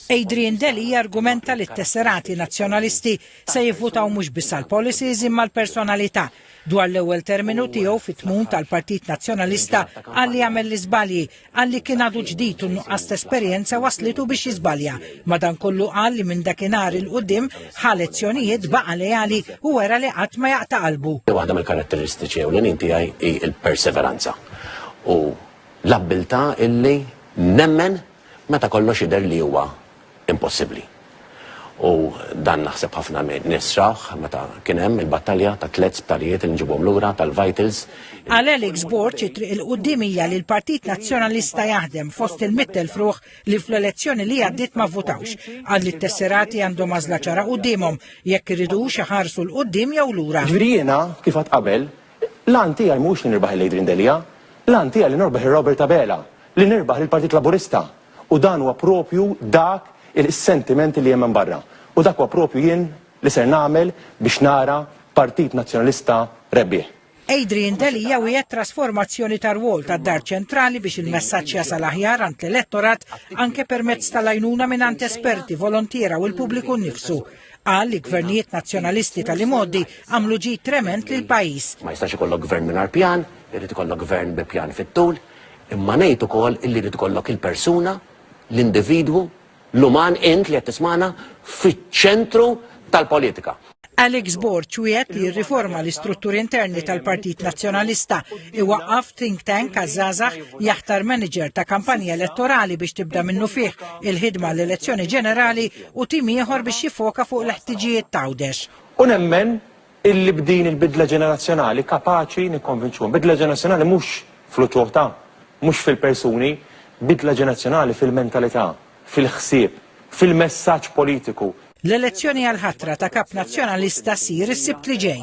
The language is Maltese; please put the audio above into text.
Adrian Delia jargumenta li t-tesserati Nazzjonalisti se jivvutaw mhux biss għall-policies imma l-personalità. Dwar l-ewwel terminu tiegħu fit-tmun tal-Partit Nazzjonalista qal li għamel l-iżbalji, qal li kien għadu ġdid u n-nuqqas ta' esperjenza wasslitu biex jiżbalja. Madankollu qal li minn dakinhar 'il quddiem ħa lezzjonijiet, baqa' leali u wera li qatt ma jaqta' qalbu. Waħda mill-karatteristiċi ewlenin tiegħi hi l-perseveranza u l-abbiltà illi nemmen meta kollox jidher li huwa impossibbli. U dan naħseb ħafna nies rawh meta kien hemm il-battalja ta' tliet sptarijiet li nġibhom lura tal-vitals. Għal Alex Borg it-triq 'il quddiem hija li l-Partit Nazzjonalista jaħdem fost il-mitt elf ruħ li fl-elezzjoni li għaddiet ma vvutawx. Qal li t-tesserati għandhom għażla ċara quddiemhom, jekk iridux iħarsu 'l quddiem jew lura. Jiġifieri jiena, kif għedt qabel, L-għan tiegħi mhuwiex li nirbaħ lil Adrian Delia. L-għan tiegħi li norbaħ lil Robert Abela, li nirbaħ lill-Partit Laburista. U dan huwa proprju dak is-sentiment li hemm hemm barra. U dak huwa proprju jien li ser nagħmel biex nara Partit Nazzjonalista rebbieħ. Adrian Delia wiegħed trasformazzjoni tar-rwol tad-Dar Ċentrali biex il-messaġġ jasal aħjar għand l-elettorat anke permezz tal-għajnuna mingħand esperti, volontiera u l-pubbliku nnifsu. Qal li gvernijiet nazzjonalisti tal-imgħoddi għamlu ġid trement lil pajjiż. Ma jistax ikollok gvern mingħajr pjan, irid ikollok gvern bi pjan fit-tul, imma ngħid ukoll illi jrid ikollok il-persuna, l-individwu, l-uman int li qed tismana fiċ-ċentru tal-politika. Alex Borg wiegħed li jirriforma l-istrutturi interni tal-Partit Nazzjonalista, iwaqqaf think tank għaż-żgħażagħ, jaħtar manager ta' kampanja elettorali biex tibda minnu fih il-ħidma l-elezzjoni ġenerali u tim ieħor biex jiffoka fuq l-ħtiġijiet t'Għawdex. U nemmen illi b'din il-bidla ġenerazzjonali kapaċi nikkonvinċuhom. Bidla ġenerazzjonali mhux fl-uċuħ ta', mhux fil-persuni, bidla ġenerazzjonali fil-mentalità, fil-ħsieb, fil-messaġġ politiku. L-elezzjoni għall-ħatra ta' Kap Nazzjonalista ssir is-Sibt li ġej.